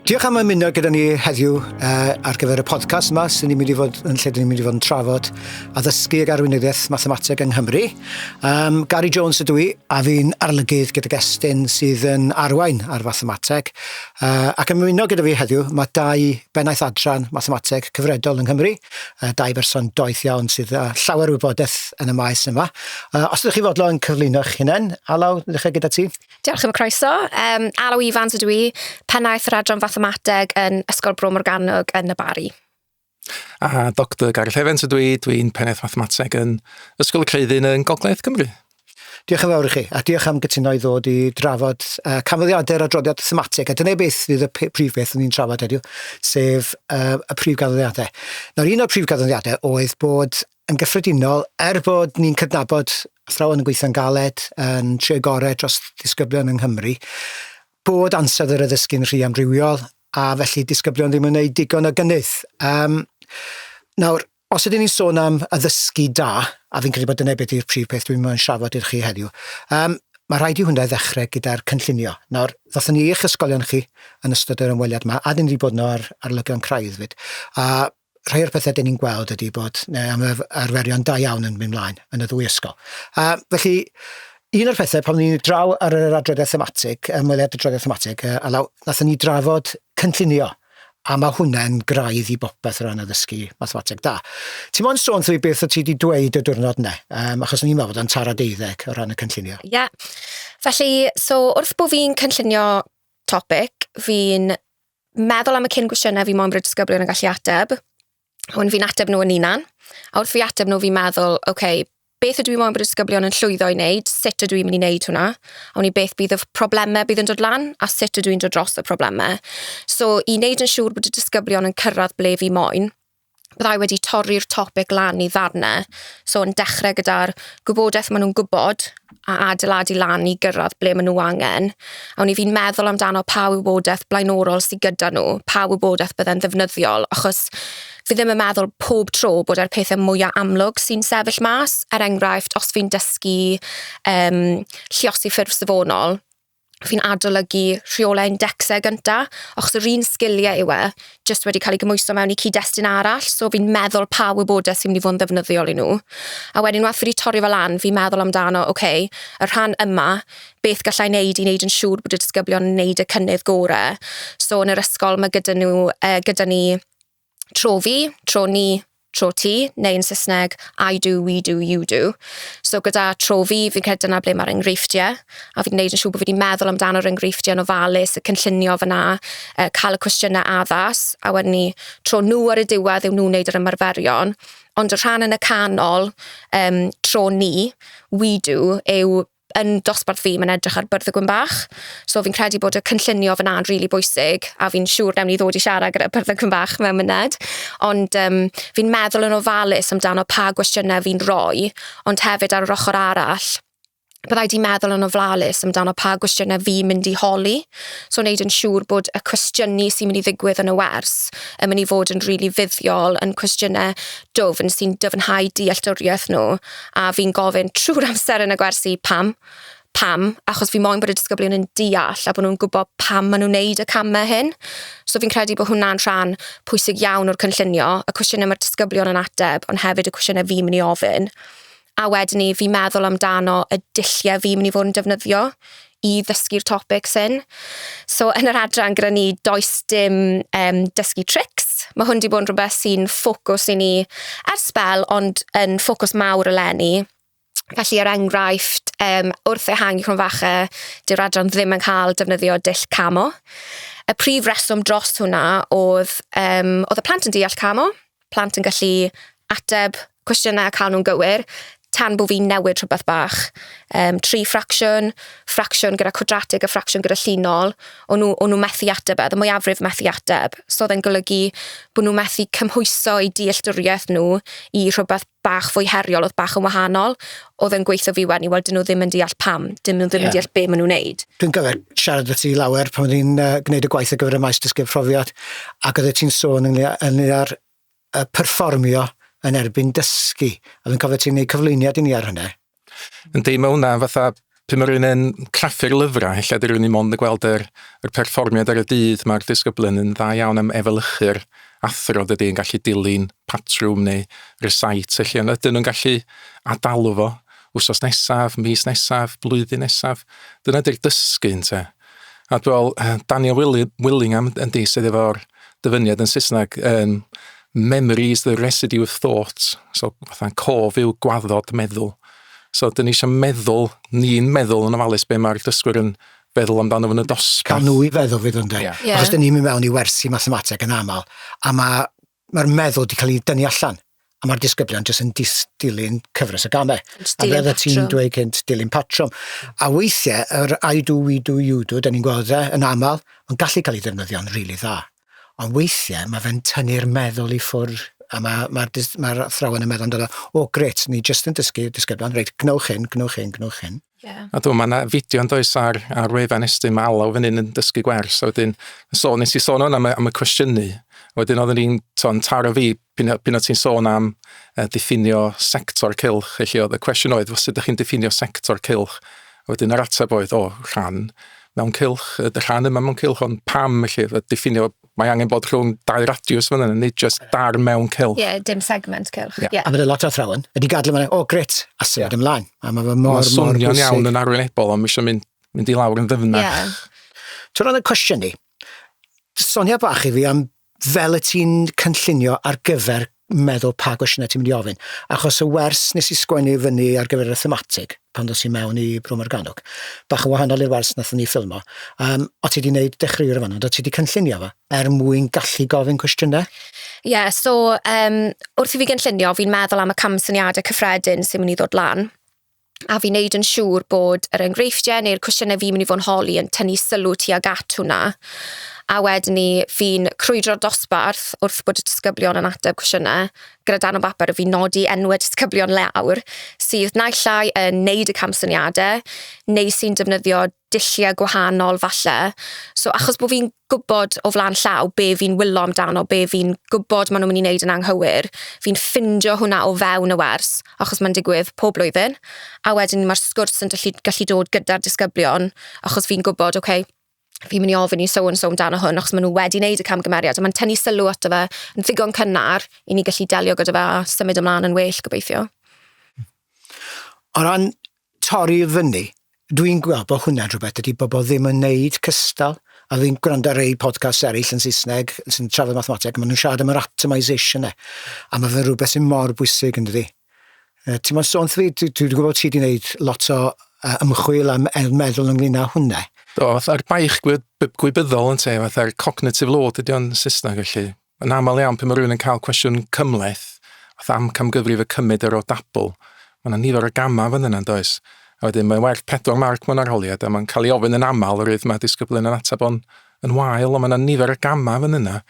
Diolch am ymuno gyda ni heddiw uh, ar gyfer y podcast yma sy'n ni'n mynd i fod yn lle ni'n mynd i fod yn trafod a ddysgu ag arweinyddiaeth mathemateg yng Nghymru. Um, Gary Jones ydw i, a fi'n arlygydd gyda gestyn sydd yn arwain ar fathemateg. Yy ac yn ymuno gyda fi heddiw ma' dau bennaeth adran mathemateg cyfredol yng Nghymru yy dau berson doeth iawn sydd â llawer o wybodeth yn y maes yma. Yy os ydych chi fodlon cyflwyno'ch hunen, Alaw, ddechre gyda ti. Diolch am y croeso. Yym Alaw Ifans ydw i, pennaeth yr adran fathemateg yn Ysgol Bro Morgannwg yn y Barri. A Doctor Gareth Evans ydw i, dwi'n Pennaeth Mathemateg yn Ysgol y Creuddyn yn Gogledd Cymru. Diolch yn fawr i chi, a diolch am gytuno i ddod i drafod uh, canfyddiadau'r adroddiad thematig, a dyna beth fydd y prif beth o'n i'n trafod heddiw, sef uh, y prif ganfyddiadau. Nawr, un o'r prif ganfyddiadau oedd bod yn gyffredinol, er bod ni'n cydnabod athrawon yn gweithio'n galed, yn trio gorau dros ddisgyblion yng Nghymru, bod ansawdd yr addysgu'n rhy amrywiol, a felly disgyblion ddim yn gwneud digon o gynnydd. Um, nawr, os ydyn ni'n sôn am addysgu da, a fi'n credu bod dyna beth yw'r prif peth dwi'n mynd i'n siafod i'r chi heddiw, um, mae rhaid i hwnna ddechrau gyda'r cynllunio. Nawr, ddothon ni eich ysgolion chi yn ystod yr ymweliad yma, a dyn ni wedi bod yno ar, ar lygion craidd fyd. A rhai o'r pethe 'dyn ni'n gweld ydi bod 'ne ymarf- arferion da iawn yn myn' mlaen yn y ddwy ysgol a felly un o'r pethe pan o'n i'n draw ar yr adroddiad thematig yym wel adroddiad thematig yy a law- nathon ni drafod cynllunio a ma' hwnne'n graidd i bopeth o ran addysgu mathemateg da. Ti mo'n sôn wrtho fi beth o' ti 'di dweud y diwrnod 'ne yym achos o'n i'n meddwl bod o'n taro deuddeg o ran y cynllunio. Ie felly so wrth bo' fi'n cynllunio topic fi'n meddwl am y cyn gwestiynau fi moyn bod y disgyblion yn gallu ateb, a wedyn fi'n ateb nhw yn unan, a wrth fi ateb nhw fi'n meddwl, oce, okay, beth ydw i moyn bod y disgyblion yn llwyddo i wneud, sut ydw i'n mynd i wneud hwnna, a wn i beth bydd y problemau bydd yn dod lan, a sut ydw i'n dod dros y problemau. So, i wneud yn siŵr bod y disgyblion yn cyrraedd ble fi moyn, byddai wedi torri'r topeg lan i ddarnau. So yn dechrau gyda'r gwybodaeth maen nhw'n gwybod a adeiladu lan i gyrraedd ble maen nhw angen. A o'n i fi'n meddwl amdano pa wybodaeth blaenorol sydd gyda nhw, pa wybodaeth bydde'n ddefnyddiol, achos fi ddim yn meddwl pob tro bod e'r pethau mwyaf amlwg sy'n sefyll mas. Er enghraifft, os fi'n dysgu um, lliosi ffurf safonol, fi'n adolygu rheolau indexau gynta, achos yr un sgiliau yw e, jyst wedi cael ei gymhwyso mewn i cyd-destun arall, so fi'n meddwl pa wybodaeth sy'n mynd i fod yn ddefnyddiol i nhw. A wedyn unwaith fi wedi torri fe lan, fi'n meddwl amdano, ok, y rhan yma, beth galla i wneud i wneud yn siŵr bod y disgyblion yn wneud y cynnydd gorau. So yn yr ysgol ma' gyda nhw yy gyda ni tro fi, tro ni, tro ti, neu yn Saesneg I do, we do, you do. So gyda tro fi, fi'n credu dyna ble mae'r enghreifftiau, a fi'n gwneud yn siŵr bod fi wedi meddwl amdano'r enghreifftiau yn ofalus, y cynllunio fan'na, yy cael y cwestiynau addas, a wedyn 'ny tro nhw ar y diwedd yw nhw'n wneud yr ymarferion. Ond y rhan yn y canol, yym tro ni, we do, yw yn dosbarth fi, mae'n edrych ar byrdd y gwyn bach. So fi'n credu bod y cynllunio fyna'n rili really bwysig, a fi'n siŵr newn ni ddod i siarad gyda byrdd y gwyn bach mewn myned. Ond um, fi'n meddwl yn ofalus amdano pa gwestiynau fi'n rhoi, ond hefyd ar yr ochr arall, byddai di meddwl yn ofalus amdano pa gwestiynau fi'n mynd i holi. So wneud yn siŵr bod y cwestiynu sy'n mynd i ddigwydd yn y wers yn mynd i fod yn rili really fuddiol, yn cwestiynau dwfn sy'n dyfnhau dealltwriaeth nhw. a fi'n gofyn trwy'r amser yn y gwersi pam? Pam? Achos fi moyn bod y disgyblion yn deall a bod nhw'n gwybod pam maen nhw'n neud y camau hyn. So fi'n credu bod hwnna'n rhan pwysig iawn o'r cynllunio, y cwestiynau mae'r disgyblion yn ateb, ond hefyd y cwestiynau fi'n mynd i ofyn. A wedyn ni, fi'n meddwl amdano y dulliau fi'n mynd i fod yn defnyddio i ddysgu'r topics hyn. So yn yr adran gyda ni, does dim um, dysgu trics. Mae hwn wedi bod yn rhywbeth sy'n ffocws i ni ar sbel, ond yn ffocws mawr eleni. Felly, er enghraifft, um, wrth ehangu cwrn fache, dyw'r adran ddim yn cael defnyddio dull camo. Y prif reswm dros hwnna oedd, um, oedd y plant yn deall camo, plant yn gallu ateb cwestiynau a cael nhw'n gywir, tan bod fi'n newid rhywbeth bach. Um, tri ffracsiwn, ffracsiwn gyda cwadratig a ffracsiwn gyda llinol, o'n nhw, o'n nhw methu ateb e, y mwyafrif methu ateb. So oedd e'n golygu bod nhw methu cymhwyso eu dealltwriaeth nhw i rhywbeth bach fwy heriol, oedd bach yn wahanol. Oedd yn gweithio fi wedyn i weld dyn nhw ddim yn deall pam, dyn nhw ddim yeah. yn deall be maen nhw'n neud. Dwi'n gyfer siarad y ti lawer pan oedd hi'n uh, gwneud y gwaith ar gyfer y maes dysgu profiad ac oedd ti'n sôn ynglyn â'r uh, perfformio yn erbyn dysgu. A fi'n cofio ti'n gwneud cyflwyniad i ni ar hynny. Yndi ma' hwnna fatha pan ma' rywun yn craffu'r lyfrau ella 'di rywun ddim ond yn gweld yr yr perfformiad ar y dydd ma'r disgyblion yn dda iawn am efelychu'r athro dydi yn gallu dilyn patrwm neu rysait felly ond ydyn nhw'n gallu adalu fo wsos nesaf, mis nesaf, blwyddyn nesaf dyna 'di'r dysgu ynte. A dwi me'wl yy Daniel Wili- Willingham yndi sydd efo'r dyfyniad yn Saesneg yn memory is the residue of thought so fatha'n cof yw gwaddod meddwl. So 'dyn ni isio meddwl ni'n meddwl yn ofalus be' ma'r dysgwyr yn feddwl amdano fo yn y dosbarth. Ca' nw i feddwl fyd ynde? Ie. Ie. Achos 'dyn ni'n myn' mewn i wersi mathemateg yn amal a ma' Mae'r meddwl wedi cael ei dynnu allan a mae'r disgyblion jyst yn dis, dilyn cyfres y gamau. A fel y ti'n dweud cynt, dilyn patrwm. A weithiau, yr I do, we do, you do, da ni'n gweld e yn aml, mae'n gallu cael ei ddefnyddio'n rili really dda. Ond weithiau mae fe'n tynnu'r meddwl i ffwrdd a mae'r ma, ma, ma athrawon yn meddwl amdano, o gret, ni jyst yn dysgu disgyblion, reit, gwnewch hyn, gwnewch hyn, gwnewch hyn. Yeah. A dwi'n meddwl, fideo yn does ar, ar wefan Estyn, mae Alaw fan hyn yn dysgu gwers. A wedyn, so, nes i sôn o'n am, am y cwestiynu. A wedyn oedden ni'n ton taro fi pyn o ti'n sôn am uh, diffinio sector cilch. Felly oedd y cwestiwn oedd, sut ydych chi'n diffinio sector cilch? A wedyn yr ateb oedd, o, rhan mewn cilch, y rhan yma mewn cilch, ond pam felly, y diffinio Mae angen bod rhwng dau radiws fan hyn, nid just dar mewn cylch. Ie, yeah, dim segment cylch. Yeah. Yeah. A mae lot o athrawon wedi gadw fan hyn, o, oh, gret, a symud yeah. ymlaen. A mae fe mor, mor bwysig. Mae'n swnio'n iawn yn arwynebol, ond mae eisiau mynd, mynd i lawr yn ddyfnach. Yeah. Ti'n rhan y cwestiwn ni, sonia bach i fi am fel y ti'n cynllunio ar gyfer meddwl pa gwestiynau ti'n mynd i ofyn. Achos y wers nes i sgwennu fyny ar gyfer y thematig, pan ddos i mewn i Bro Morgannwg, bach yn wahanol i'r wers nath ni ffilmo, um, o ti wedi gwneud dechreuwyr o fanna, o ti wedi cynllunio fo, er mwyn gallu gofyn cwestiynau? Ie, yeah, so um, wrth i fi gynllunio, fi'n meddwl am y cam syniadau cyffredin sy'n mynd i ddod lan. a fi'n neud yn siŵr bod yr enghreifftiau neu'r cwestiynau fi'n mynd i fod yn holi yn tynnu sylw tuag at hwnna. A wedyn ni, fi'n crwydro'r dosbarth wrth bod y disgyblion yn ateb cwestiynau gyda dan o bapur a fi'n nodi enwau disgyblion lawr sydd naill ai yn neud y camsyniadau neu sy'n defnyddio dulliau gwahanol falle. So achos bod fi'n gwybod o flaen llaw be fi'n wylo amdano, be fi'n gwybod maen nhw'n mynd i wneud yn anghywir, fi'n ffindio hwnna o fewn y wers, achos mae'n digwydd pob blwyddyn. A wedyn mae'r sgwrs yn dyllu, gallu dod gyda'r disgyblion, achos fi'n gwybod, oce, okay, fi'n mynd i ofyn i so and so amdano hwn, achos maen nhw wedi wneud y camgymeriad, a mae'n tynnu sylw ato fe yn ddigon cynnar i ni gallu delio gyda fe a symud ymlaen yn well, gobeithio. O ran torri i fyny. Dwi'n gweld bod hwnna'n rhywbeth dydy bobl ddim yn wneud cystal a fi'n gwrando ar rei podcasts eraill yn Saesneg sy'n trafod mathemateg a maen nhw'n siarad am yr atomisation e a mae fe'n rhywbeth sy'n mor bwysig yn dydy. Uh, ti'n mo'n sôn fi, dwi'n dwi gwybod ti wedi gwneud lot o uh, ymchwil am er meddwl ynglyn â hwnna. Do, fatha'r baich gwybyddol yn te, fatha'r cognitive load ydy o'n Saesneg felly. Yn aml iawn, pan mae rhywun yn cael cwestiwn cymhleth, fath am camgyfrif y cymyd yr o dabl, mae yna nifer o gamau fan yna, does? A wedyn mae'n werth pedwar marc mewn arholiad, a mae'n cael ei ofyn yn aml, yr oedd mae disgyblion yn ateb o'n yn wael, ond mae yna nifer o gamau fan yna.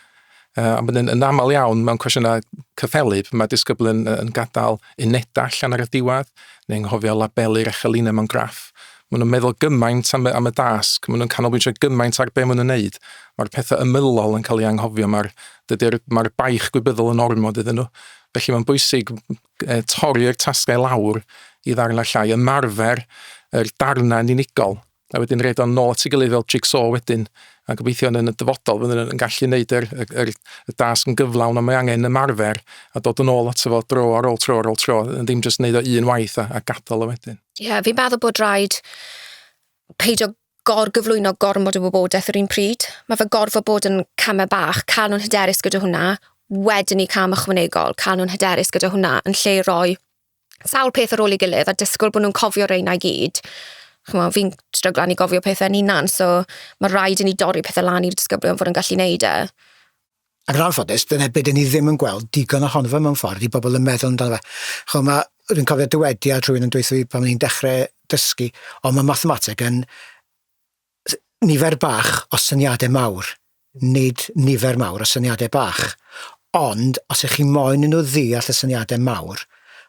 Uh, ond yn, yn aml iawn mewn cwestiynau cyffelyb, mae disgyblion yn gadael unedau allan ar y diwedd, neu'n nghofio labelu'r echelinau mewn graff. Maen nhw'n meddwl gymaint am y, am y dasg, maen nhw'n canolbwyntio gymaint ar be maen nhw'n neud. Mae'r pethau ymylol yn cael ei anghofio, mae'r dydy'r mae'r baich gwybyddol yn ormod iddyn nhw. Felly mae'n bwysig e, torri'r tasgau lawr i ddarnau llai, ymarfer yr darnau yn unigol, a wedyn roed o'n nôl at ei gilydd fel jigsaw wedyn, a gobeithio yn y dyfodol fyddwn yn gallu gwneud yr, yr, yr, y dasg yn gyflawn a mae angen ymarfer a dod yn ôl ato fo dro ar ôl tro ar ôl tro, yn ddim jyst wneud o un waith a, a gadael o wedyn. Ie, yeah, fi'n meddwl bod rhaid peidio gorgyflwyno gormod o wybodaeth yr un pryd. Mae fe gorfod bod yn camau bach, cael nhw'n hyderus gyda hwnna, wedyn ni cam ychwanegol, cael nhw'n hyderus gyda hwnna, yn lle roi sawl peth ar ôl ei gilydd a disgwyl bod nhw'n cofio reina i gyd. Ch'mo', fi'n stryglan i gofio pethe'n hunan, so ma' raid i ni dorri pethe lan i'r disgyblion fod yn gallu neud e. Ac yn anffodus, dyna be' 'dyn ni ddim yn gweld digon ohono fe mewn ffordd, 'di bobol yn meddwl amdano fe. Ch'mo' ma' dwi'n cofio dywediad rhywun yn dweutho fi pan o'n i'n dechre dysgu, o ma' mathemateg yn nifer bach o syniadau mawr, nid nifer mawr o syniadau bach. Ond, os ych chi moyn i nhw ddeall y syniadau mawr,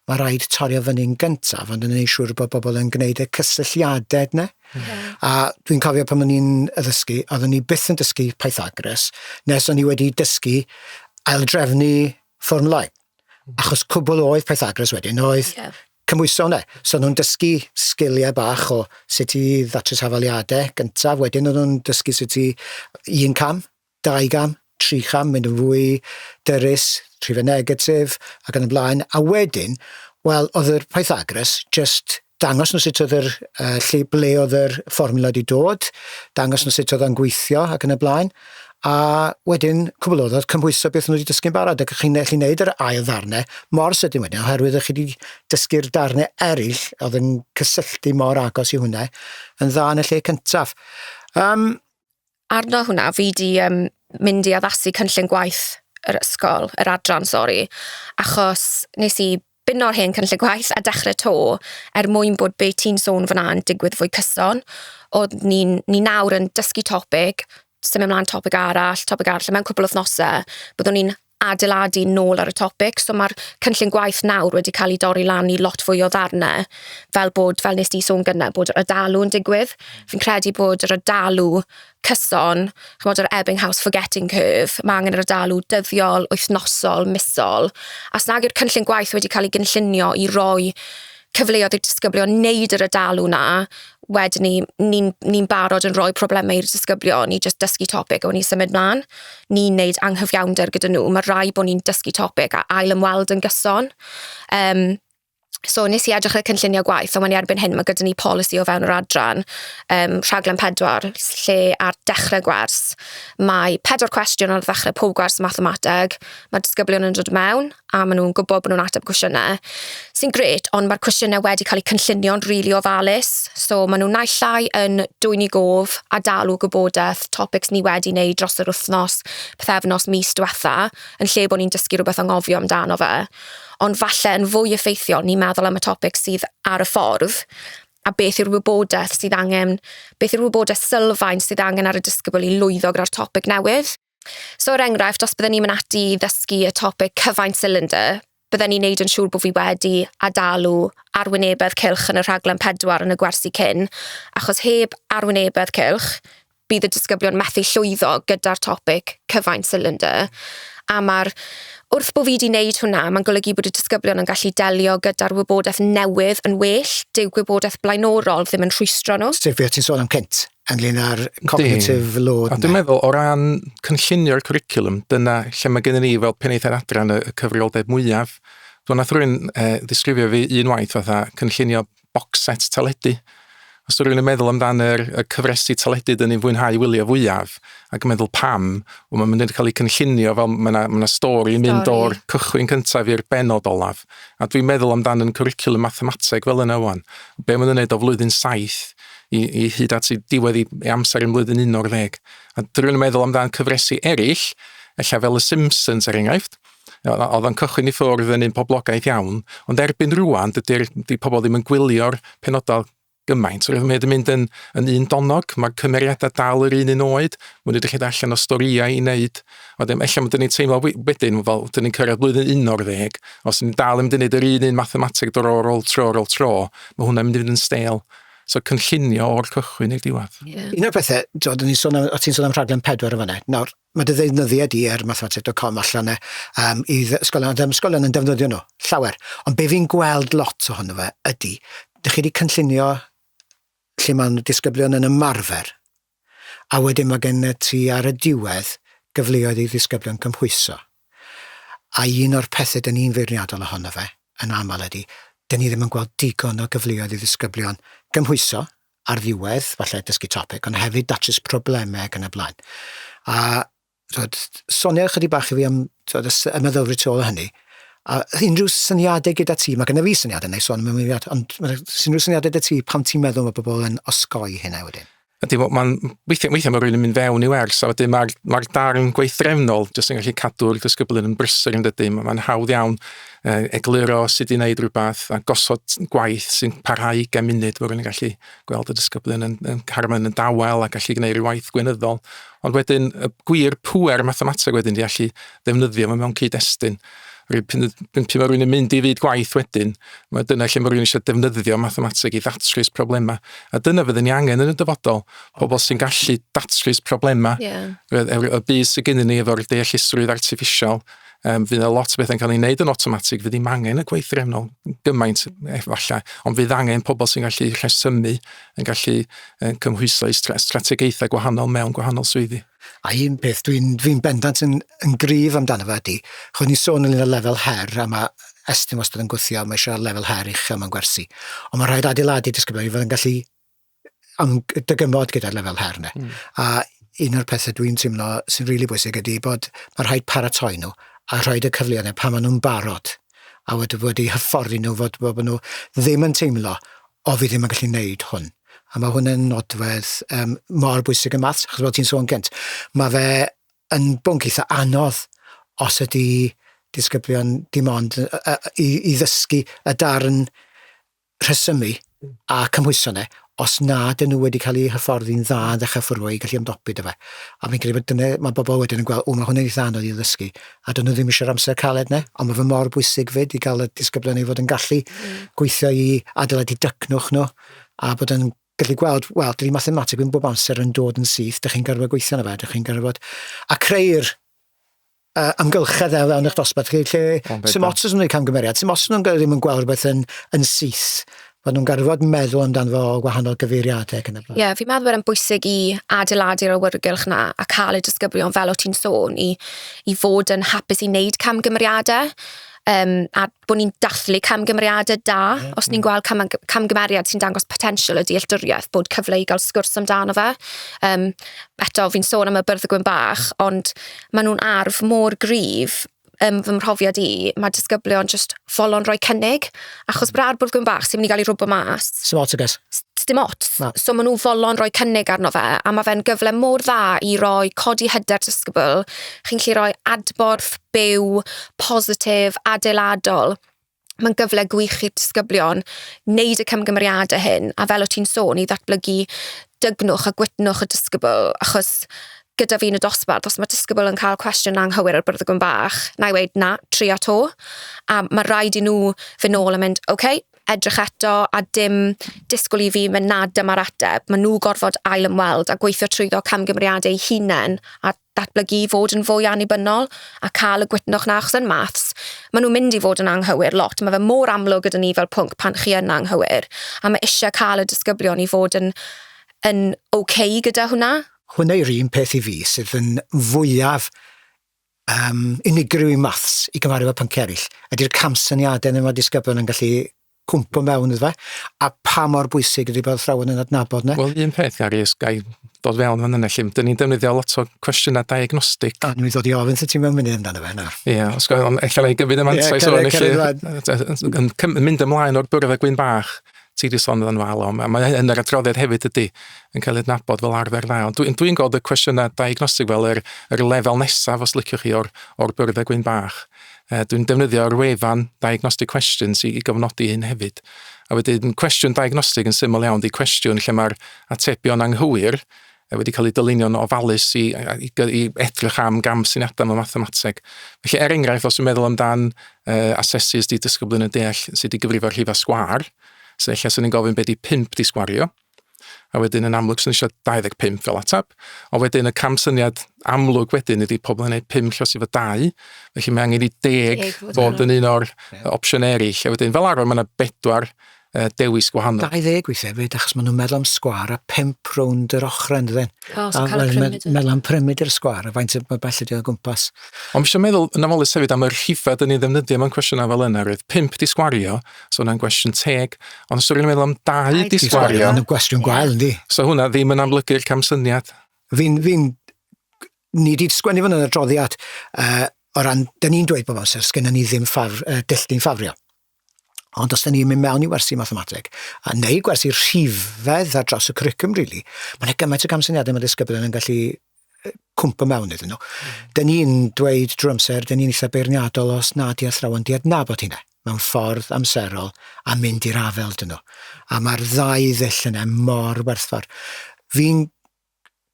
mae rhaid torio fyny'n gyntaf, ond yn ei siŵr bod bobl yn gwneud y cysylltiadau yna. Yeah. A dwi'n cofio pan o'n i'n addysgu, oeddwn i byth yn dysgu Pythagoras, nes o'n i wedi dysgu aildrefnu fformlau. Achos cwbl oedd Pythagoras wedyn, oedd yeah. Cymhwyso ne. So nhw'n dysgu sgiliau bach o sut i ddatrys hafaliade gyntaf, wedyn o'n nhw'n dysgu sut i un cam, dau gam, tri cham, mynd yn fwy dyrys, rhife negatif ac yn y blaen, a wedyn wel oedd yr Pythagoras jyst dangos nhw sut oedd yr yy lle ble oedd yr fformiwla wedi dod, dangos nhw sut oedd o'n gweithio ac yn y blaen, a wedyn cwbl o ddod cymhwyso beth nhw wedi dysgu'n barod ac chi'n gallu neud yr ail ddarne mor sydyn wedyn oherwydd o'ch chi 'di dysgu'r darne eryll o'dd yn cysylltu mor agos i hwnne yn dda yn y lle cyntaf. Um, Arno hwnna fi 'di um, mynd i addasu cynllun gwaith yr ysgol, yr adran, sori, achos nes i Bino'r hen cynllun gwaith a dechrau 'to er mwyn bod be ti'n sôn fan'na yn digwydd fwy cyson. Odd ni'n... Ni nawr yn dysgu topig, symud mlan topig arall, topig arall a mewn cwpwl o wthnose byddwn ni'n adeiladu nôl ar y topig so ma'r cynllun gwaith nawr wedi ca'l 'i dorri lan i lot fwy o ddarne fel bod fel nest di sôn gynne bod yr odalu yn digwydd. Fi'n credu bod yr odalu cyson, chimod yr Ebbinghaus forgetting curve, mae angen yr adalu dyddiol, wythnosol, misol, a os nag yw'r cynllun gwaith wedi cael ei gynllunio i roi cyfleoedd i'r disgyblion wneud yr adalu 'na, wedyn ni, ni'n ni barod yn rhoi problemau i'r disgyblion i jyst dysgu topic a wedyn ni symud mlaen. Ni'n wneud anghyfiawnder gyda nhw, mae rhaid bod ni'n dysgu topic a ail-ymweld yn gyson. Um, So nes i edrych ar y cynllunio gwaith, ond mae'n i erbyn hyn, mae gyda ni polisi o fewn yr adran, um, rhaglen pedwar, lle ar dechrau gwers, mae pedwar cwestiwn ar ddechrau pob gwers mathemateg, mae disgyblion yn dod mewn, a maen nhw'n gwybod bod nhw'n ateb cwestiynau, sy'n gret, ond mae'r cwestiynau wedi cael eu cynllunio'n rili really ofalus, so maen nhw'n naill llai yn dwy'n i gof a dalu gwybodaeth, topics ni wedi wneud dros yr wythnos, pethefnos, mis diwetha, yn lle bod ni'n dysgu rhywbeth anghofio amdano fe. ond falle yn fwy effeithiol ni'n meddwl am y topics sydd ar y ffordd, a beth yw'r wybodaeth sydd angen, beth yw'r wybodaeth sylfaen sydd angen ar y disgybl i lwyddo gyda'r topic newydd. So er enghraifft, os bydden ni'n mynd ati i ddysgu y topic cyfaint cylinder, bydden ni'n neud yn siŵr bod fi wedi adalu arwynebedd cylch yn y rhaglen pedwar yn y gwersi cyn, achos heb arwynebedd cylch, bydd y disgyblion methu llwyddo gyda'r topic cyfaint silindyr. A mae'r wrth bod fi wedi wneud hwnna, mae'n golygu bod y disgyblion yn gallu delio gyda'r wybodaeth newydd yn well. Dyw gwybodaeth blaenorol ddim yn rhwystro nhw. Sef beth ti'n sôn am cynt, ynglyn â'r cognitive load. A dwi'n meddwl, o ran cynllunio'r curriculum, dyna lle mae gennym ni fel penaethiaid adran y cyfrioldeb mwyaf. Dwi'n nath rwy'n eh, ddisgrifio fi un waith fatha cynllunio box set teledu. Os rwy'n yn meddwl amdan yr, y cyfresu teledu dyn ni'n fwynhau wylio fwyaf, ac yn meddwl pam, wel, mae'n mynd i'n cael ei cynllunio fel mae yna, ma stori yn mynd o'r cychwyn cyntaf i'r benod olaf. A dwi'n meddwl amdan yn cwricwlwm mathemateg fel yna wan. Be mae'n gwneud o flwyddyn saith i, i hyd at i diwedd i, i amser yn flwyddyn un o'r ddeg. A dwi'n meddwl amdan cyfresu eraill, efallai fel y Simpsons er enghraifft, oedd o'n cychwyn i ffwrdd yn un poblogaeth iawn, ond erbyn rwan, dydy'r dy pobl ddim yn gwylio'r penodau gymaint. Roedd yn mynd yn, yn un donog, mae cymeriadau dal yr un un oed, mae nhw wedi rhaid allan o storiau i wneud. Wedyn, efallai mae dyn ni'n teimlo wedyn, fel dyn ni'n cyrraedd blwyddyn un o'r ddeg, os ni'n dal yn mynd i wneud yr un un mathemateg dor o'r ôl tro ar ôl tro, mae hwnna'n mynd i fynd yn stêl. So cynllunio o'r cychwyn i'r diwedd. Yeah. Un o'r pethau, ti'n sôn am rhaglen pedwar yn fanna. Nawr, Mae dy ddeunyddiau di ar mathematic.com allan e, um, i ysgolion, a dyma ysgolion yn defnyddio nhw, llawer. Ond be fi'n gweld lot ohono fe ydy, dych chi wedi cynllunio lle mae'n disgyblion yn ymarfer, a wedyn mae gen ti ar y diwedd gyfleoedd i ddisgyblion cymhwyso. A un o'r pethau dyn ni'n feirniadol ohono fe, yn aml ydy, dyn ni ddim yn gweld digon o gyfleoedd i ddisgyblion gymhwyso, ar ddiwedd, falle dysgu topic, ond hefyd datrys problemau ac yn y blaen. A twod, sonio ychydig bach i fi am twod, y meddylfryd tu ôl o hynny, a unrhyw syniadau gyda ti, mae gen i fi syniadau neu son mewn mudiad, ond mae unrhyw syniadau gyda ti pam ti'n meddwl mae pobl yn osgoi hynna wedyn? Ydy, mae'n weithiau, weithiau mae rhywun yn mynd fewn i wers, a wedyn mae'r mae darn gweithdrefnol jyst yn gallu cadw'r disgyblion yn brysur yn dydy, mae'n hawdd iawn egluro sut i wneud rhywbeth a gosod gwaith sy'n parhau gen munud fod yn gallu gweld y disgyblion yn, yn carfan yn dawel a gallu gwneud rhyw waith gwynyddol. Ond wedyn, y gwir pwer mathemateg wedyn di allu ddefnyddio fe mewn cyd-destun. Rwy'n pyn, pyn, pyn mae rhywun yn mynd i fyd gwaith wedyn, mae dyna lle mae rhywun eisiau defnyddio mathemateg i ddatrys problemau. A dyna fydd ni angen yn y dyfodol, pobl sy'n gallu datrys problemau yeah. y, y, y byd sydd gennym ni efo'r deallusrwydd artificial, Um, fydd yna lot o bethau'n cael ei wneud yn automatic, fydd ddim angen y gweithrefnol gymaint efallai, ond fydd angen pobl sy'n gallu rhesymu, yn gallu yn cymhwyso i strategaethau gwahanol mewn gwahanol swyddi. A un peth dwi'n dwi bendant yn, yn grif amdano fe ydy, chwn ni sôn yn y lefel her, a mae Estyn wastad yn gwthio, mae eisiau lefel her uchel mewn gwersi. Ond mae rhaid adeiladu disgyblion i fod yn gallu am dy gymod gyda'r lefel her yna. Mm. A un o'r pethau dwi'n teimlo sy'n rili really bwysig ydy bod mae rhaid paratoi nhw a rhoi y cyfleoedd yna pan maen nhw'n barod a wedi, wedi hyfforddi nhw fod, bod nhw ddim yn teimlo o fi ddim yn gallu wneud hwn. A mae hwn yn nodwedd um, mor bwysig y maths, achos fel ti'n sôn gynt, mae fe yn bwnc eitha anodd os ydy disgyblion dim ond uh, i, i ddysgu y darn rhesymu a cymhwyso yna, os nad ydyn nhw wedi cael eu hyfforddi'n dda yn ddechrau ffurfio i gallu ymdopi 'da fe. A fi'n credu bod dyna... mae bobl wedyn yn gweld, 'w, mae hwn yn eitha anodd i ddysgu. A 'dyn nhw ddim eisiau'r amser caled 'na, ond mae fe mor bwysig 'fyd i gael y disgyblion i fod yn gallu gweithio i adeiladu dycnwch nhw, a bod yn gallu gweld, wel, dydy mathemateg ddim bob amser yn dod yn syth, dych chi'n gorfod gweithio arno fe, dych chi'n gorfod... a creu'r uh, amgylchedd ar ran eich dosbarth chi, lle sy'n ots os nhw'n gwneud camgymeriad, sy'n ots nhw'n ddim yn gweld rhywbeth yn, yn syth fod nhw'n garfod meddwl amdano fo o wahanol gyfeiriadau ac yn y blaen. Ie, yeah, fi'n meddwl bod e'n bwysig i adeiladu'r awyrgylch na a cael y disgyblion fel o ti'n sôn i, i fod yn hapus i wneud camgymeriadau. um, a bod ni'n dathlu camgymeriadau da, mm. os ni'n mm. gweld cam, camgymeriad sy'n dangos potensial y dealltwriaeth, bod cyfle i gael sgwrs amdano fe. Um, eto, fi'n sôn am y byrdd y gwyn bach, ond maen nhw'n arf mor gryf um, fy mhrofiad i, mae disgyblion just folon rhoi cynnig, Achos brad bwrdd gwyn bach sy'n mynd i gael ei rwbo mas. Sdim ots, I guess. S- Sdim ots. Na. So maen nhw folon rhoi cynnig arno fe, a mae fe'n gyfle mor dda i roi codi hyder disgybl. Chi'n gallu rhoi adborth byw, positif, adeiladol. Mae'n gyfle gwych i'r disgyblion wneud y cymgymeriadau hyn, a fel o ti'n sôn, i ddatblygu dygnwch a gwytnwch y disgybl, achos gyda fi yn y dosbarth, os mae disgybl yn cael cwestiwn anghywir ar bwrdd y gwn bach, na i weud na, trio to. A mae rhaid i nhw fy nôl a mynd, oce, okay, edrych eto a dim disgwyl i fi mynd na dyma'r ateb. Mae nhw gorfod ail ymweld a gweithio trwyddo camgymeriadau eu hunain a datblygu i fod yn fwy annibynnol a cael y gwytnwch na achos yn maths. Mae nhw'n mynd i fod yn anghywir lot. Mae fe mor amlwg gyda ni fel pwnc pan chi yn anghywir. A mae eisiau cael y disgyblion i fod yn, yn okay gyda hwnna. Hwnna yw'r un peth i fi sydd yn fwyaf um, unigryw i maths i gymaru efo pynciau eraill. Ydy'r camsyniadau neu mae disgyblion yn gallu cwmpo mewn iddo fe, a pa mor bwysig ydy bod athrawon yn adnabod yna. Wel, un peth, Gary, ys gai dod fewn fan yna, lle dyn ni'n defnyddio lot o cwestiynau diagnostic. A ni'n dod i ofyn sy'n ti'n mewn mynd amdano fe nawr. Ie, yeah, os gael, ond eich ei gyfyd y mantais yeah, o'n eich yn mynd ymlaen o'r bwrdd a gwyn bach. ti wedi sôn yn aml am, a mae yn yr adroddiad hefyd ydy, yn cael ei adnabod fel arfer dda. Ond dwi'n dwi, gweld y cwestiynau diagnostig fel yr, yr lefel nesaf, os liciwch chi, o'r, or byrddau gwyn bach. E, dwi'n defnyddio'r wefan diagnostic questions i, i gofnodi hyn hefyd. A wedyn, cwestiwn diagnostig yn syml iawn, di cwestiwn lle mae'r atebion anghywir, e wedi cael ei dylunio'n ofalus i, i, i edrych am gam syniadau mewn mathemateg. Felly, er enghraifft, os yw'n meddwl amdan uh, asesus di dysgyblyn yn deall sydd wedi gyfrifo rhifa sgwar, so eich sy'n ni'n gofyn beth di 5 di sgwario, a wedyn yn amlwg sy'n eisiau 25 fel atab, ond wedyn y cam syniad amlwg wedyn ydy pobl yn gwneud 5 llos i fod 2, felly mae angen i 10 fod yn un o'r opsiynau eraill, a wedyn fel arfer mae yna bedwar uh, dewis gwahanol. 20 weithiau hefyd, achos maen nhw'n meddwl am sgwar a pimp rownd yr ochrau yn dydyn. Oh, so cael prymyd. Meddwl am prymyd i'r sgwar, a faint o bell ydi o gwmpas. Ond mi eisiau meddwl yn amolus hefyd am y rhifedd yn ei ddefnyddio mewn cwestiynau fel yna, roedd pimp di sgwario, so hwnna'n gwestiwn teg, ond os ydyn meddwl am dau di sgwario... Yn y gwestiwn gwael, yndi. So hwnna ddim yn amlygu'r camsyniad. Fi'n, fi'n, ni wedi sgwennu fan yn y droddiad, uh, o ran, da ni'n dweud bob amser, sgynna ni ddim ffafr, uh, dilldi'n ffafrio. Ond os 'da ni'n mynd mewn i wersi mathemateg, a neu gwersi rhifedd ar dros y cwricwm, really, mae yna gymaint o gamsyniadau mae disgyblion yn gallu cwmpa mewn iddyn nhw. Mm. Da ni'n dweud drwy amser, da ni'n eitha beirniadol os na di athrawon di adnabod hynna mewn ffordd amserol a mynd i'r afel dyn nhw. A mae'r ddau ddull yna mor werthfawr. Fi'n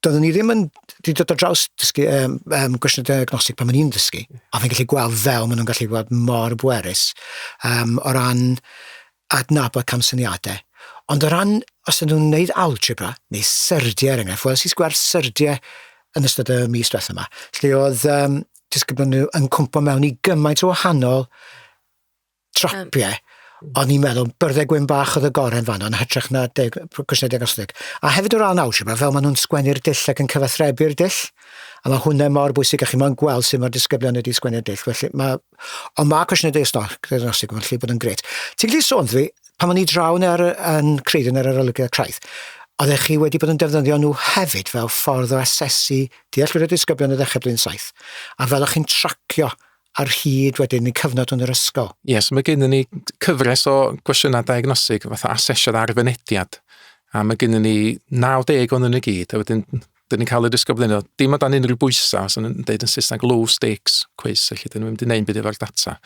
doeddwn i ddim yn wedi dod ar draws dysgu um, um, gwestiwn diagnostig pan o'n i'n dysgu, a fi'n gallu gweld fel maen nhw'n gallu gweld mor bwerus um, o ran adnabod camsyniadau. Ond o ran, os ydyn nhw'n gwneud algebra, neu syrdiau er enghraifft, wnes i gweld syrdiau yn ystod y mis diwethaf yma, lle oedd um, disgyblion nhw yn cwmpo mewn i gymaint o wahanol trapie, o'n i'n meddwl, byrddau gwyn bach oedd y gorau yn fanno, yn hytrach na deg, cwestiynau diagnostig. A hefyd o ran algebra, fel maen nhw'n sgwennu'r dull ac yn cyfathrebu'r dull, a mae hwnna mor bwysig, a chi mae'n gweld sut mae'r disgyblion wedi sgwennu'r dull. Felly, mae, ond mae cwestiynau diagnostig yn lle bod yn gret. Ti'n gallu sôn dwi, pan o'n i drawn ar, yn Creidyn ar yr olygiad craidd, oeddech chi wedi bod yn defnyddio nhw hefyd fel ffordd o asesu dealltwriaeth disgyblion y ddechrau blwyddyn saith, a fel o'ch chi'n tracio ar hyd wedyn y cyfnod yn yr ysgol. Ie, yes, mae gennym ni cyfres o gwestiynau diagnosig fatha asesiad ar fynediad, a mae gennym ni 90 o'n yn y gyd, a wedyn dyn ni'n cael y dysgu blino, dim o dan unrhyw bwysau, os yn dweud yn Saesneg low stakes quiz, felly dyn ni'n mynd i wneud byd efo'r data.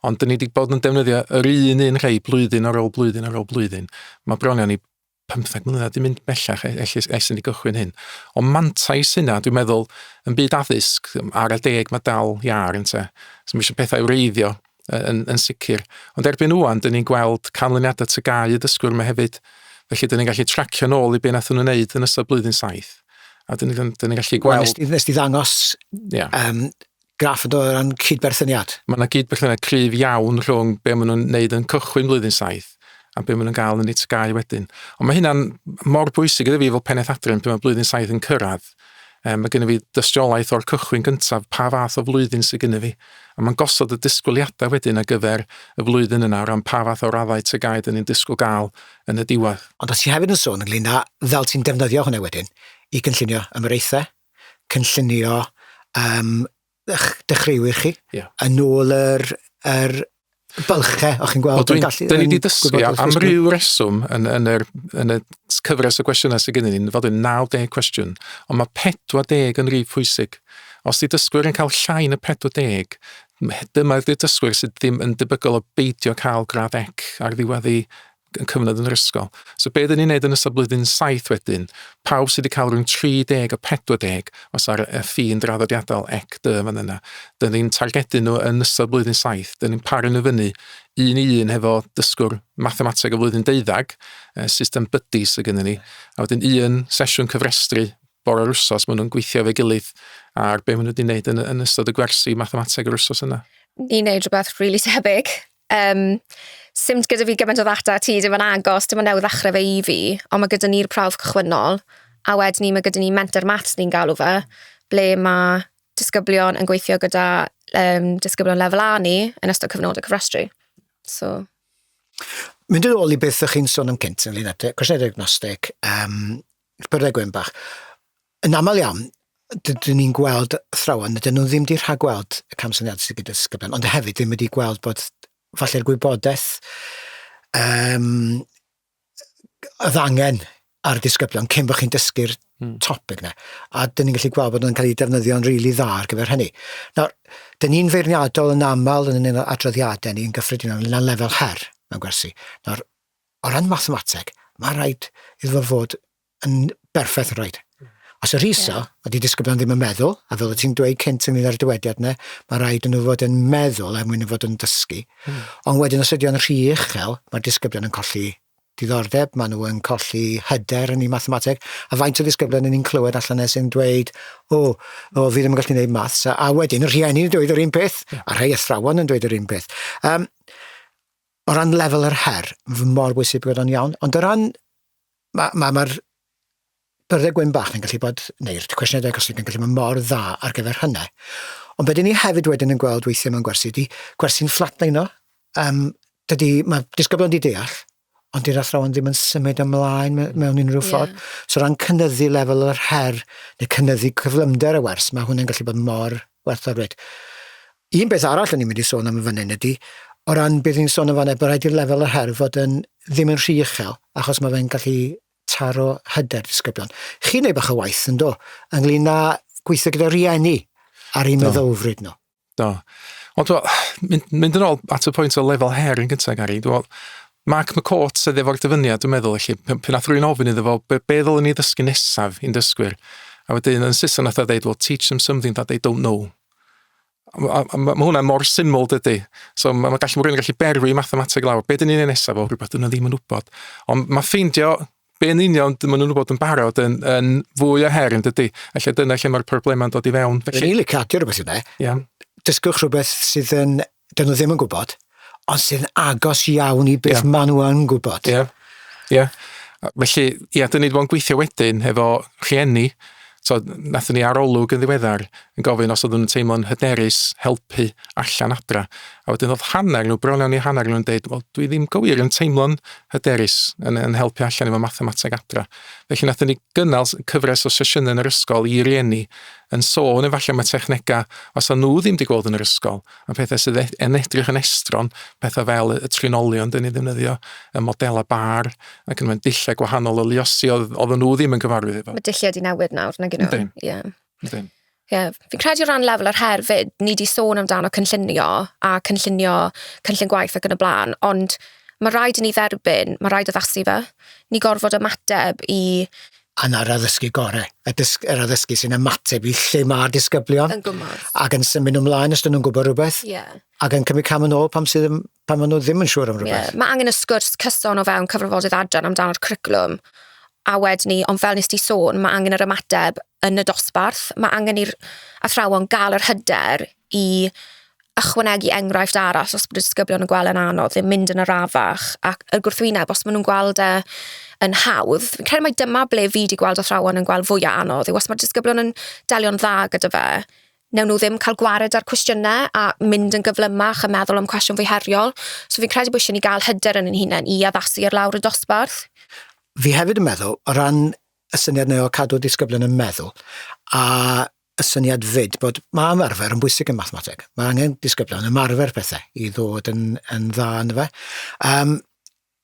Ond dyn ni wedi bod yn defnyddio yr un un rhai blwyddyn ar ôl blwyddyn ar ôl blwyddyn. Mae bron iawn i 15 mlynedd di mynd bellach e- ell- ell- ers i ni gychwyn hyn. Ond mantais hynna, dwi'n meddwl, yn byd addysg, ar y deg mae dal iar yn te. So mae eisiau pethau wreiddio yn, yn sicr. Ond erbyn wwan, dyn ni'n gweld canlyniadau tygau y dysgwyr yma hefyd. Felly, dyn ni'n gallu tracio nôl i be nath nhw'n wneud yn ystod blwyddyn saith. A dyn ni'n ni gallu gweld... Nes, nes di ddangos yeah. um, graff yn dod o ran cyd-berthyniad. Mae yna gyd-berthyniad cryf iawn rhwng be maen nhw'n neud yn cychwyn blwyddyn saith a be maen nhw'n gael yn ei tgau wedyn. Ond mae hynna'n mor bwysig iddo fi fel pennaeth adre pan mae blwyddyn saith yn cyrraedd. Um, mae gennym fi dystiolaeth o'r cychwyn gyntaf pa fath o flwyddyn sydd gennym fi. A mae'n gosod y disgwyliadau wedyn ar gyfer y flwyddyn yna o ran pa fath o raddau tygau dyn ni'n disgwyl gael yn y diwedd. Ond o ti hefyd yn sôn ynglyn â fel ti'n defnyddio hwnna wedyn i gynllunio ymyraethau, cynllunio um, dechreuwyr chi yeah. yn ôl yr, yr bylche, o'ch chi'n gweld? Dwi'n gallu... Dyn ni wedi dysgu am ryw reswm yn, yn, yr, yn y cyfres o gwestiynau sydd gen i'n fod yn 90 cwestiwn, ond mae 40 yn rhyw pwysig. Os di dysgwyr yn cael llai na 40, dyma'r dysgwyr sydd ddim yn debygol o beidio cael grad ec ar ddiwedd yn cyfnod yn yr ysgol. So be dyn ni'n neud yn ystod blwyddyn saith wedyn, pawb sydd wedi cael rhwng 30 a 40, os ar y ffin draddodiadol ec dy fan yna, dyn ni'n targedu nhw yn ystod blwyddyn saith, dyn ni'n paru nhw fyny un i un hefo dysgwr mathemateg o flwyddyn deuddag, system buddy sydd gennym ni, a wedyn un sesiwn cyfrestru bore o'r wsos, maen nhw'n gweithio efo'i gilydd ar be maen nhw wedi wneud yn, yn ystod y gwersi mathemateg yr wsos yna. Ni'n neud rhywbeth rili really tebyg. Yym, sim gyda fi gymaint o ddata â ti, dim yn agos, dim ond newydd ddechrau fe i fi, ond mae gyda ni'r prawf cychwynnol, a wedyn 'ny mae gyda ni Menter Maths ni'n galw fe, ble mae disgyblion yn gweithio gyda yym disgyblion lefel A ni yn ystod cyfnodau cofrestru. So... Mynd yn ôl i beth o'ch chi'n sôn am cynt ynglyn â cwestiynau diagnostig, um, byrddau gwyn bach. Yn aml iawn, dyn ni'n gweld athrawon, dyn nhw ddim wedi rhagweld y camsyniad sydd gyda ysgyben, ond hefyd ddim wedi gweld bod falle'r gwybodaeth um, oedd angen ar y disgyblion cyn bod chi'n dysgu'r hmm. topic yna. A dyn ni'n gallu gweld bod nhw'n cael eu defnyddio'n rili really dda ar gyfer hynny. Nawr, dyn ni'n feirniadol yn aml yn un o adroddiadau ni yn gyffredinol yn lefel her mewn gwersi. Nawr, o ran mathemateg, mae rhaid iddo fod yn berffaith yn rhaid. Os y rhiso, yeah. a di disgyblion ddim yn meddwl, a fel y ti'n dweud cynt yn mynd ar y dywediad yna, mae rhaid yn nhw fod yn meddwl er mwyn fod yn dysgu. Mm. Ond wedyn os ydy o'n rhy uchel, mae'r disgyblion yn colli diddordeb, maen nhw yn colli hyder yn ei mathemateg, a faint o ddisgyblion yn ni'n clywed allan nes yn dweud, o, o, fi ddim yn gallu gwneud maths, a, a wedyn y rhieni yn dweud yr un peth, yeah. a rhai athrawon yn dweud yr un peth. Um, o ran lefel yr her, mae fy mor bwysig bod o'n iawn, ond o ran Mae, mae, mae'r byrddau gwyn bach yn gallu bod, neu'r cwestiynau diagnostig yn gallu bod mor dda ar gyfer hynny. Ond beth ni hefyd wedyn yn gweld weithiau mewn gwersi, di gwersi'n fflatlein o. Um, dydy, mae disgyblion di deall, ond dy'r athrawon ddim yn symud ymlaen me, mewn unrhyw ffordd. Yeah. So ran cynnyddu lefel yr her, neu cynnyddu cyflymder y wers, mae hwnna'n gallu bod mor werthfawr wed. Un peth arall o'n i'n mynd i sôn am yn fan hyn ydy, o ran beth ni'n sôn yn fanna, bod rhaid i'r lefel yr her fod yn ddim yn rhy uchel, achos mae fe'n gallu taro hyder disgyblion. Chi'n neud bach o waith yn do, ynglyn â gweithio gyda rieni ar ei meddylfryd nhw. Do. Ond dwi'n mynd, mynd yn ôl at y pwynt o lefel her yn gyntaf, Gary, dwi'n Mark McCourt sydd efo'r dyfyniad, dwi'n meddwl, felly, pan nath rwy'n ofyn iddo fo, be, be ddylwn ni ddysgu nesaf i'n dysgwyr? A wedyn yn Saeson nath o ddeud, well, teach them something that they don't know. Mae ma, ma hwnna mor syml dydy. So mae ma gallu, ma rwy'n gallu berwi mathemateg lawr. Be dyn ni'n ei nesaf o rhywbeth dyn nhw ddim yn wybod. Ond mae ffeindio be'n union dyn nhw'n wybod yn barod yn, yn fwy o her yn dydy. Felly dyna lle mae'r problemau'n dod i fewn. Felly... Rili really cadio'r rhywbeth yna. Yeah. Dysgwch rhywbeth sydd yn 'dyn nhw ddim yn gwybod, ond sydd yn agos iawn i beth yeah. maen nhw yn gwybod. Ie, yeah. ie. Yeah. Felly, ie, yeah, dyn ni wedi bod yn gweithio wedyn efo rhieni, so nathon ni arolwg yn ddiweddar yn gofyn os oedden nhw'n teimlo'n hyderus helpu allan adra. A wedyn oedd hanner nhw, bron iawn i hanner nhw'n dweud, wel, dwi ddim gywir yn teimlo'n hyderus yn, yn helpu allan efo mathemateg adra. Felly nathon ni gynnal cyfres o sesiynau yn yr ysgol i rieni yn sôn efallai am y technegau os a nhw ddim wedi gweld yn yr ysgol, a pethau sydd e- yn edrych yn estron, pethau fel y trinolion dyn ni ddefnyddio, y modelau bar, ac yn mynd dillau gwahanol o luosi oedd oedden nhw ddim yn cyfarwydd efo. Mae dilliau di newid nawr, nag yno. Ydyn. Ie. Yeah. Ydyn. Ie, yeah. fi'n credu o ran lefel yr her fyd, ni di sôn amdano cynllunio a cynllunio cynllun gwaith ac yn y blaen, ond mae rhaid i ni dderbyn, mae rhaid addasu fe. Ni gorfod ymateb i a 'na'r addysgu gorau, y dysg, yr addysgu sy'n ymateb i lle mae'r disgyblion. Yn gwybod. Ac yn symud nhw ymlaen os dyn nhw'n gwybod rhywbeth. Ie. Yeah. Ac yn cymryd cam yn ôl pam, sydd, pam maen nhw ddim yn siŵr am rhywbeth. Yeah. Mae angen y sgwrs cyson o fewn cyfrifoldeb adran amdano'r cwricwlwm a wedyn ni, ond fel nes ti sôn, mae angen yr ymateb yn y dosbarth. Mae angen i'r athrawon gael yr hyder i ychwanegu enghraifft arall os bod y disgyblion yn gweld e'n anodd ddim mynd yn arafach ac y gwrthwyneb os maen nhw'n gweld e yn hawdd. Fi'n credu mai dyma ble fi 'di gweld athrawon yn gweld fwya anodd yw os ma'r disgyblion yn delio'n dda gyda fe newn nhw ddim cael gwared â'r cwestiyne a mynd yn gyflymach a meddwl am cwestiwn fwy heriol. So fi'n credu bo' isie ni ga'l hyder yn ein hunen i addasu ar lawr y dosbarth. Fi hefyd yn meddwl o ran y syniad 'ne o cadw disgyblion yn meddwl a y syniad fyd bod mae ymarfer yn bwysig yn mathemateg. Mae angen disgyblion ymarfer pethau i ddod yn, yn dda yn fe. Um,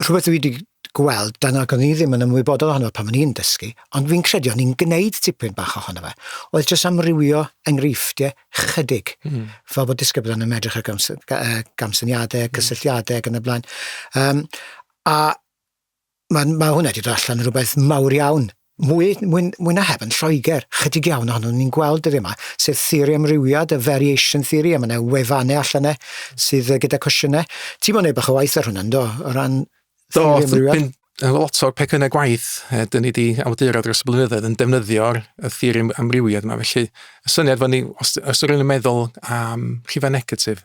rhywbeth dwi wedi gweld, dan ac o'n i ddim yn ymwybodol ohono pan o'n i'n dysgu, ond fi'n credu o'n i'n gwneud tipyn bach ohono fe, oedd jyst amrywio enghreifftiau chydig, mm. fel bod disgyblion yn medrych ar gamsyniadau, cysylltiadau ac yn y blaen. Um, a Ma' ma' hwnna 'di do' allan yn rwbeth mawr iawn, mwy mwy mwy na heb yn Lloeger, chydig iawn ohonon ni'n gweld dyddie 'ma, sef theori amrywiad, y variation theory, a ma' 'na wefane allan 'ne sydd yy gyda cwestiyne. Ti mo'n neud bach o waith ar hwnna yndo, o ran theori amrywiad? Do, dwi'n lot o'r pecynne gwaith yy 'dyn ni 'di awduro dros y blynyddoedd yn defnyddio'r y theori amrywiad 'ma, felly y syniad fo ni os os 'na rywun yn meddwl am rhife negatif,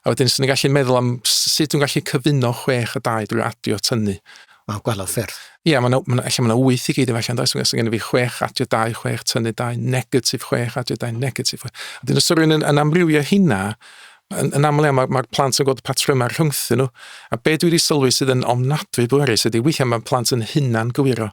A wedyn, swn i'n gallu meddwl am sut dwi'n gallu cyfuno chwech a dau drwy adio tynnu. Mae'n gwella ffyrdd. Ie, yeah, mae yna, allan mae wyth i gyd efallai, does? Mae gen i fi chwech adio dau, chwech tynnu dau, negatif chwech adio dau, negatif chwech. A dyn os rwy'n yn, yn amrywio hynna, yn, yn aml iawn mae'r mae plant yn gweld patrymau rhwngthyn nhw. A be dwi wedi sylwi sydd yn ofnadwy bwerus ydy weithiau mae plant yn hunan gywiro.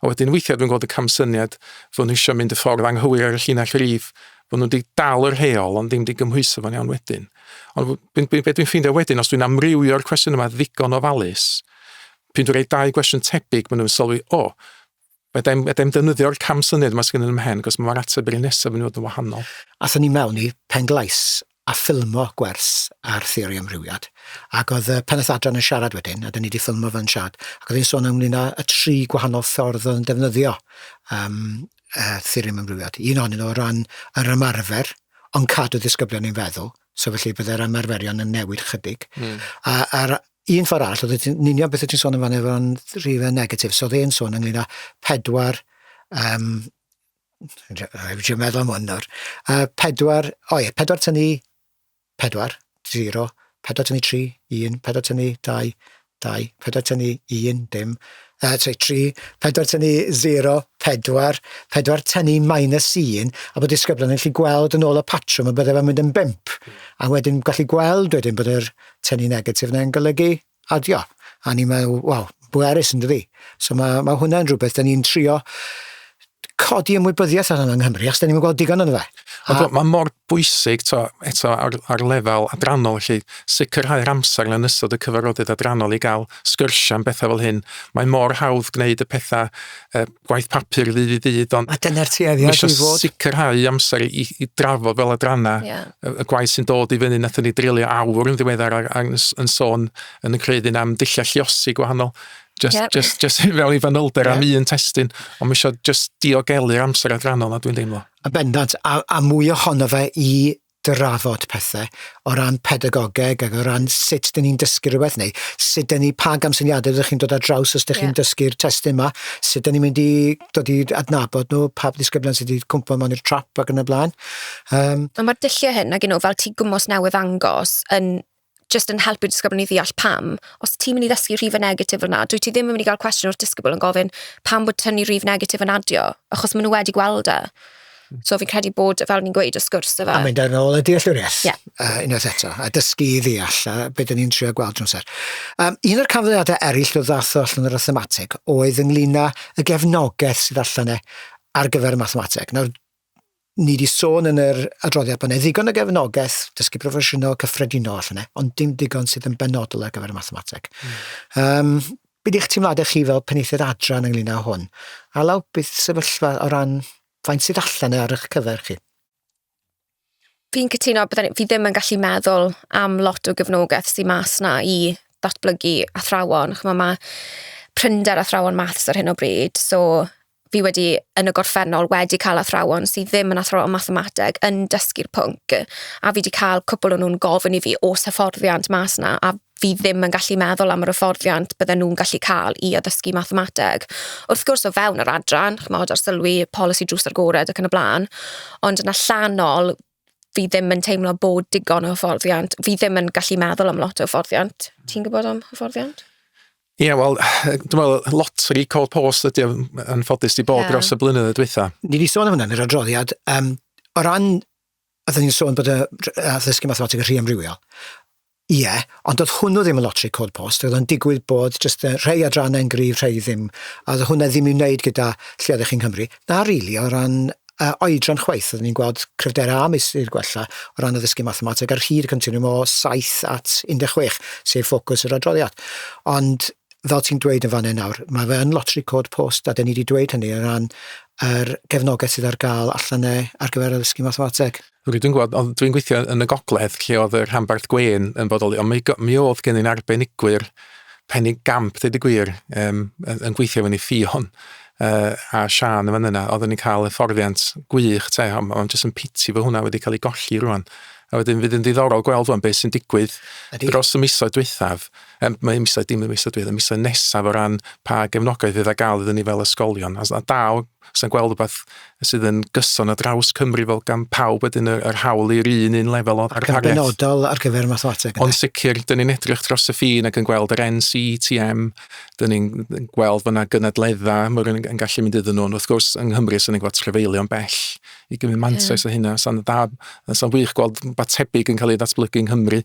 A wedyn weithiau dwi'n gweld y camsyniad fod nhw eisiau mynd y ffordd anghywir ar y llinell rif, fod nhw wedi dal yr heol ond ddim wedi gymhwyso fo'n iawn wedyn. Ond be dwi'n dwi ffeindio wedyn, os dwi'n amrywio'r cwestiwn yma ddigon o ofalus, pyn dwi'n rhoi dau gwestiwn tebyg, maen nhw'n sylwi, o, oh, Meda'n meda'n defnyddio'r cam syniad yma sydd gennym ymhen, cos mae'r ateb yr un nesaf yn fod yn wahanol. Athyn ni mewn i pen glais, a ffilmo gwers ar theori amrywiad, ac oedd y pennaeth adran yn siarad wedyn, a 'da ni wedi ffilmo fo yn siarad, ac oedd hi'n sôn ynglyn â y tri gwahanol ffordd oedd yn defnyddio um, uh, theori amrywiad. Un ohonyn nhw o ran yr ymarfer, ond cadw ddisgyblion i'n feddwl, so felly byddai'r ymarferion yn newid chydig. Mm. A, a'r un ffordd arall, oedd yn union beth oedd ti'n sôn yn fan efo'n rhif y negatif, so oedd e'n sôn ynglyn â pedwar um, Dwi'n meddwl am hwn nawr. Uh, pedwar, o ie, pedwar tynnu pedwar, zero, pedwar tynnu tri, un, pedwar tynnu dau, dau, pedwar tynnu un, dim, uh, sorry, tri, pedwar tynnu zero, pedwar, pedwar tynnu minus un, a bod disgyblion yn gallu gweld yn ôl y patrwm y byddai fe'n mynd yn bimp, a wedyn gallu gweld wedyn bod yr tynnu negatif yna'n golygu adio a o'n i me'wl waw bwerus yndydi? So ma' ma' hwnna'n rwbeth 'dan ni'n trio codi ymwybyddiaeth ohono yng Nghymru achos 'dan ni'm yn gweld digon ono fe. A... Ond mae mor bwysig to eto ar, ar lefel adrannol felly sicrhau'r amser yn ystod y cyfarfodydd adrannol i gael sgyrsiau am bethau fel hyn. Mae mor hawdd gwneud y pethau uh, gwaith papur ddydd i ddydd, ond... A dyna'r tueddiad i fod. sicrhau amser i, i drafod fel adranna yeah. y, y gwaith sy'n dod i fyny. Nathon ni drulio awr yn ddiweddar ar, ar, yn sôn yn y creidyn am dulliau lliosi gwahanol. Just, yeah. just, just fel i fanylder yeah. am un testyn, ond mae eisiau just diogelu'r amser adrannol na dwi'n deimlo. A bendant, a, a mwy ohono fe i drafod pethe o ran pedagogeg ac o ran sut dyn ni'n dysgu rhywbeth neu sut dyn ni, pa gamsyniadau ydych chi'n dod ar draws os ydych yeah. chi'n dysgu'r testyn yma, sut dyn ni'n mynd i dod i adnabod nhw, pa ddisgyblion sydd wedi cwmpa mewn i'r trap ac yn y blaen. Um, Mae'r dulliau hyn, ac nhw, fel ti gwmos newydd angos, yn jyst yn helpu'r disgyblion i ddeall pam. Os ti'n mynd i ddysgu rhifau negatif fel 'na, dwyt ti ddim yn mynd i gael cwestiwn o'r disgybl yn gofyn pam bod tynnu rif negatif yn adio, achos maen nhw wedi gweld e. Hmm. So fi'n credu bod, fel ni'n gweud, y sgwrs yfe. A mynd yn ôl y dealltwriaeth, yeah. uh, unwaith eto, a dysgu i ddeall, a beth ni'n trio gweld drwy'n ser. Um, un o'r canfyddiadau eraill o ddath o allan yr athematig oedd ynglyn â y gefnogaeth sydd allan e ar gyfer y mathemateg. Nawr, ni wedi sôn yn yr adroddiad bod yna ddigon o gefnogaeth dysgu proffesiynol cyffredinol allan yna, ond dim digon sydd yn benodol ar gyfer y mathemateg. Mm. Um, beth eich teimladau chi fel penaethiad adran ynglyn â hwn? A law, beth sefyllfa o ran faint sydd allan e ar eich cyfer chi? Fi'n cytuno, bydden, fi ddim yn gallu meddwl am lot o gefnogaeth sy'n mas na i ddatblygu athrawon. Chymod, mae prinder athrawon maths ar hyn o bryd, so fi wedi, yn y gorffennol, wedi cael athrawon sydd ddim yn athrawon mathemateg yn dysgu'r pwnc, a fi wedi cael cwpl o nhw'n gofyn i fi oes hyfforddiant mas 'na, a fi ddim yn gallu meddwl am yr hyfforddiant bydden nhw'n gallu cael i addysgu mathemateg. Wrth gwrs, o fewn yr adran, chimod, arsylwi, polisi drws agored ac yn y blaen, ond yn allanol, fi ddim yn teimlo bod digon o hyfforddiant. Fi ddim yn gallu meddwl am lot o hyfforddiant. Ti'n gwybod am hyfforddiant? Ie, yeah, wel, dwi'n meddwl, lotri Cold Post ydy yn ffodus di bod yeah. dros y blynyddoedd diwetha. Ni wedi sôn am hwnna yn yr adroddiad. Um, o ran, a dyn ni'n sôn bod y ddysgu mathematig yn rhy amrywiol. Ie, yeah, ond oedd hwnnw ddim yn lotri Cold Post. Oedd o'n digwydd bod jyst rhai adrannau'n gryf, rhai ddim. A oedd hwnna ddim i'w wneud gyda lle oeddech chi'n Nghymru. Na, rili, really, o ran uh, oedran chwaith, oeddwn ni'n gweld cryfderau a meistr gwella o ran addysgu mathemateg ar hyd y continwm o 7 at 16, sef ffocws yr adroddiad. Ond fel ti'n dweud yn fanau nawr, mae fe yn lotri cod post, a dyn ni wedi dweud hynny o ran yr gefnogaeth sydd ar gael allan e ar gyfer addysgu mathemateg. Rydw i'n gwybod, ond dwi'n gweithio yn y gogledd lle oedd y rhanbarth gwên yn bodoli, ond mi, mi oedd gen i'n arbenigwyr penny gamp, dweud y gwir, um, yn, yn gweithio fyny ffion uh, a Sian yn fan yna, oedden ni'n cael hyfforddiant gwych te, ond ma jyst yn piti fod hwnna wedi cael ei golli rwan. A wedyn fydd yn ddiddorol gweld rwan beth sy'n digwydd Ydy. dros y misoedd dwythaf, um, mae misoedd dim y misoedd dwythaf, y misoedd nesaf o ran pa gefnogaeth fydd a gael iddyn ni fel ysgolion. A, a daw sa'n gweld rhywbeth sydd yn gyson ar draws Cymru fel gan pawb wedyn yr, yr hawl i'r un un lefel o Ac yn benodol ar gyfer mathemateg. Ond sicr, dyn ni'n edrych dros y ffin ac yn gweld yr NCTM, dyn ni'n gweld fyna gynadledda, mae rhywun yn gallu mynd iddyn nhw, ond wrth gwrs yng Nghymru sy'n ni'n gweld trefeilio'n bell i gymryd mantais yeah. o hynna, sa'n dda, sa'n wych gweld ba tebyg yn cael ei ddatblygu yng Nghymru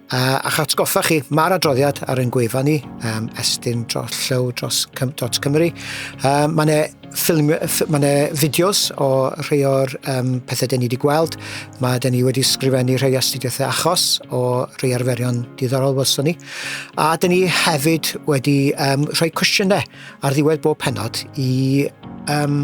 Uh, a'ch atgoffa chi, mae'r adroddiad ar ein gwefan ni, um, estyn dro, llew dros, cym, dros Cymru. Um, mae yna ffilm, mae yna fideos o rhai o'r um, pethau dyn ni wedi gweld. Mae dyn ni wedi sgrifennu rhai astudiaethau achos o rhai arferion diddorol welson ni. A dyn ni hefyd wedi um, rhoi cwestiynau ar ddiwedd bob penod i um,